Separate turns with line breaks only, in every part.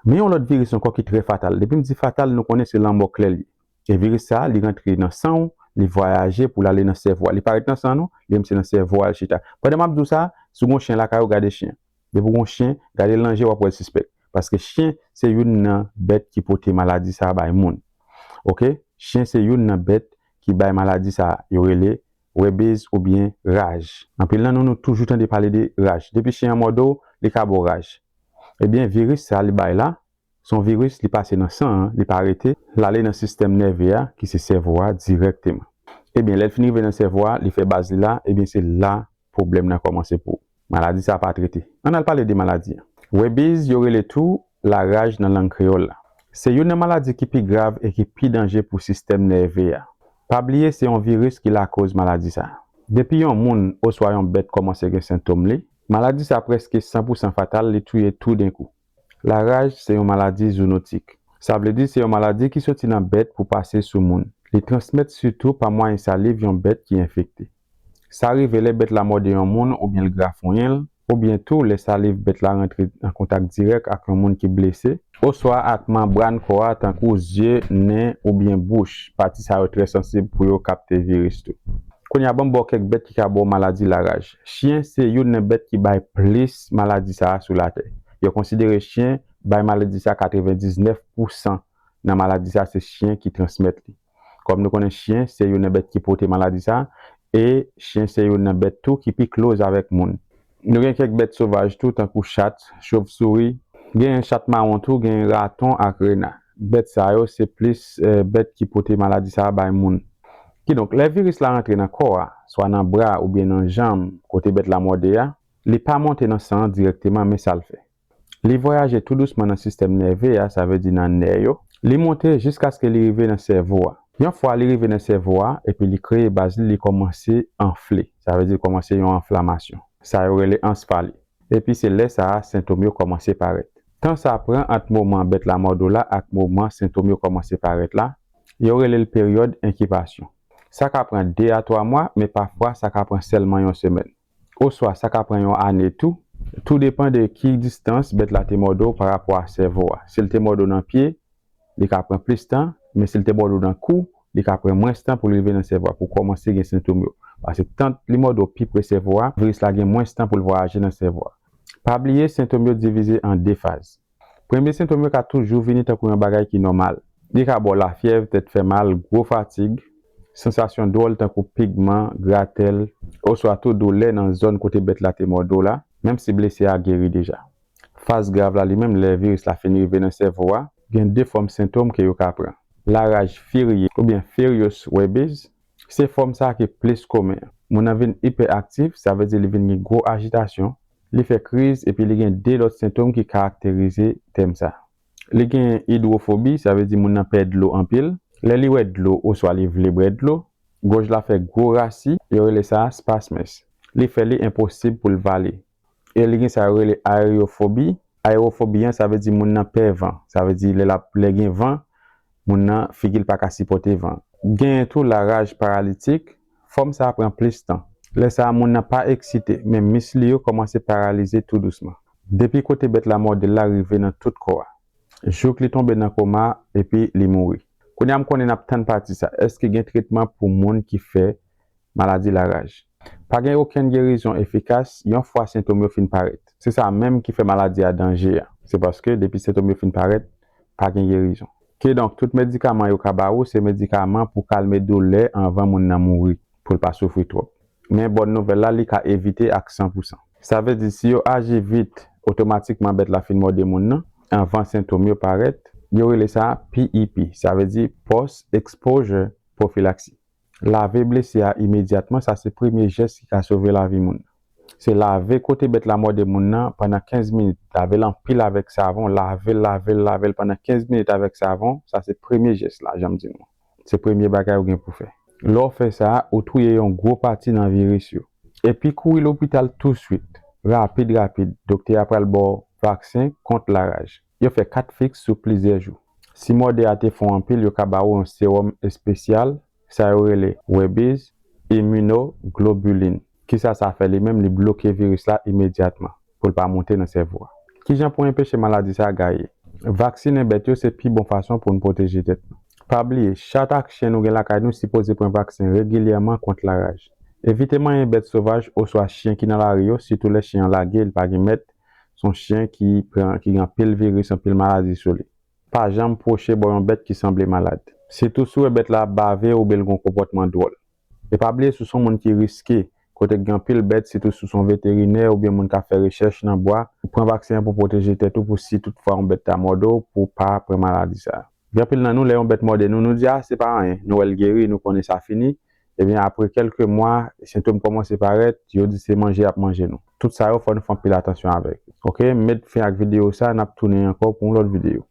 Men yon lòt viris ankò ki trè fatal. Depi m di fatal, nou konnen se lanmò klè l ye. E viris sa a, li rantre nan san ou, li vwayaje pou l ale nan sèvo a. Li pa ret nan san an non, li menm se nan sèvo a l chita. Pandan m ap di w sa, si w gen yon chen lakay ou, gade chen. Depi w gen yon chen, gade l nan je w ap wè l sispèk. Paske chen se youn nan bèt ki pote maladi sa a bay moun. Ok, chen se youn nan bèt ki bay maladi sa a yo rele Rebez oubyen raj. Anpil nan nou nou toujou tande pale de raj. Depi chen an mòde w, li ka ba w raj. Ebyen viris sa li bay la, se yon viris li pase nan san an, li pa rete, l ale nan sistèm nève a ki se sèvo a dirèkteman. Ebyen lè l fin rive nan sèvo a, li fè baz li la, ebyen se la pwoblèm nan kòmanse pou ou. Maladi sa pa trete. Ann al pale de maladi an. Rebiz, yo rele tou la raj nan lang kreyòl la. Se youn nan maladi ki pi grav e ki pi danje pou sistèm nève a. Pa bliye se yon viris ki lakoz maladi sa. Depi yon moun oswa yon bèt kòmanse gen sentom li, maladi sa prèske san pou san fatal li touye tou den kou. La raj se yon maladi zounotik. Sa vle di se yon maladi ki soti nan bèt pou pase sou moun. Li transmèt sitou pa mwayen saliv yon bèt ki enfekte. Sa rive lè bèt la mòde yon moun oubyen l grafonyen l, oubyen tou lè saliv bèt la rantre an kontak dirèk ak yon moun ki blese, oswa ak manbràn kò a tankou zye, nen, oubyen bouch, pati sa yo trè sansib pou yo kapte viris tou. Kounye a ban m ba w kèk bèt ki ka ba w maladi laraj. Chyen se youn nan bèt ki bay plis maladi sa a sou latè. Yo konsidere chyen bay maladi sa 99 pousan nan maladi sa se chyen ki transmèt li. Kòm nou konnen chyen se youn nan bèt ki pote maladi sa e chyen se youn nan bèt tou ki pi klose avèk moun. Nou gen kèk bèt sovaj tou tankou chat, chovsouri, genyen chat mawon tou, genyen raton ak rena. Bèt sa yo se plis bèt ki pote maladi sa bay moun. Kidonk lè viris la rantre nan kò a, swa nan bra oubyen nan janm kote bèt la mòde a, li pa monte nan san an dirèkteman men sa l fè. Li vwayaje tou dousman nan sistèm nève a, sa vle di nan nè yo. Li monte jiskaske li rive nan sèvo a. Yon fwa li rive nan sèvo a epi li kreye baz li, li kòmanse anfle. Sa vle di li kòmanse yon anflamasyon. Sa yo rele ansfali. Epi se lè sa a sentom yo kòmanse parèt. Tan sa pran ant moman bèt la mòdo la ak moman sentom yo kòmanse parèt la, yo rele l peryòd enkibasyon. Sa ka pran 2 a 3 mwa, men pafwa sa ka pran sèlman yon semèn. oswa sa ka pran yon ane tou, tou depan de ki distans bèt la te mòde w parapò a sèvo a. Si l te mòde w nan pye, li ka pran plis tan, men si l te mòde w nan kou, li ka pran mwens tan pou l rive nan sèvo a pou w kòmanse gen sentom yo. Paske tant li mòde w pi pre sèvo a, viris la gen mwens tan pou l vwayaje nan sèvo a. Pa bliye sentom yo divize an 2 faz. Premye sentom yo ka toujou vini tankou yon bagay ki nòmal. Li ka ba w lafyèv, tèt fè mal, gwo fatig, sansasyon dwòl tankou pigman, gratèl, oswa tou doulè nan zòn kote bèt la te mòde w la, menm si blesi a geri deja. Faz grav la li menm lè viris la fin rive nan sèvo a, gen 2 fòm sentom ke yo ka pran. Laraj firye oubyen furious rabies, se fòm sa ki plis komen. Moun nan vin ipè aktif, sa vle di li vin gen gwo ajitasyon, Li fè kriz epi li gen 2 lòt sentom ki karakterize tèm sa. Li gen idwofobi, sa vle di moun nan pè dlo anpil. Lè li wè dlo oswa li vle bwè dlo, gòj la fè gwo rasi, yo rele sa spasmes. Li fè li enposib pou l vale. E li gen sa yo rele aereyofobi. Aereyofobi an sa vle di moun nan pè van. Sa vle di lè l ap, lè gen van, moun nan figi l pa ka sipòte van. Genyen tou laraj paralitik, Fòm sa pran plis tan. Lè sa moun nan pa eksite, men mis li yo kòmanse paralize tou dousman. Depi kote bèt la mòde l la rive nan tout kò a. Jouk li tonbe nan koma epi li mouri. Kounye a m konnen n ap tann pati sa. Èske gen tretman pou moun ki fè maladi laraj? Pa gen okenn gerizon efikas yon fwa sentom yo fin parèt. Se sa menm ki fè maladi a danje a. Se paske depi sentom yo fin parèt, pa gen gerizon. Kidonk, tout medikaman yo ka ba ou se medikaman pou kalme doulè anvan moun nan mouri, pou l pa soufri twòp. Men bòn nouvèl la, li ka evite ak san pou san. Sa vle di, si yo aji vit, otomatikman bèt la fin mòde moun nan, anvan sentom yo parèt. Yo rele sa PEP, sa vle di Post-Exposure Prophylaxis. Lave blese a imedyatman, sa se premye jès ki ka sove lavi moun. Se lave kote bèt la mòde moun nan pandan 15 minit, lave l anpil avèk savon, lave l, lave l, lave l pandan 15 minit avèk savon, sa se premye jès la, jan m di nou. Se premye bagay ou gen pou fè. Lè w fè sa, ou touye yon gwo pati nan viris yo. Epi kouri lopital touswit, rapid rapid, doktè a pral ba w vaksen kont laraj. Yo fè 4 fix sou plizyè jou. Si mòde a te fon anpil yo ka ba ou yon sewòm espesyal, sa yo rele Rabies Immunoglobulin. Kisa sa fè li menm li bloke viris la imedyatman pou l pa monte nan sèvo a. Kijan pou enpeche maladi sa gaye? Vaksinen bèt yo se pi bon fason pou n pwoteje tèt nou. Pa bliye, chat ak chen nou gen lakay nou sipoze pran vaksen regilyèman kont laraj. Evite manyen bèt sovaj oswa chyen ki nan lari yo sitou lè chyen an lage li pa gen mèt Se yon chyen ki gen anpil viris, anpil maladi sou li. Pa janm pwoche bò yon bèt ki sanble malad. Sitou si w wè bèt la ap bave oubyen l gen yon konpòtman dwòl. E pa bliye si w se yon moun ki riske, kote ki gen anpil bèt, sitou si w se yon veterinè oubyen moun k ap fè rechèch nan bwa, pran vaksen an pou w pwoteje tèt ou pou si tout fwa yon bèt ta mòde w pou w pa pran maladi sa a. Gen anpil nan nou, lè yon bèt mòde nou, nou di a se pa anyen, nou wè l geri, nou konnen sa fini, Ebyen apre kelke mwa sentom komanse paret yo di se manje yap manje nou. Tout sa yo fò nou fè anpil atansyon avek. Ok m met fen ak video sa nap tounen anko pou yon lot video.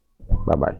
Babay.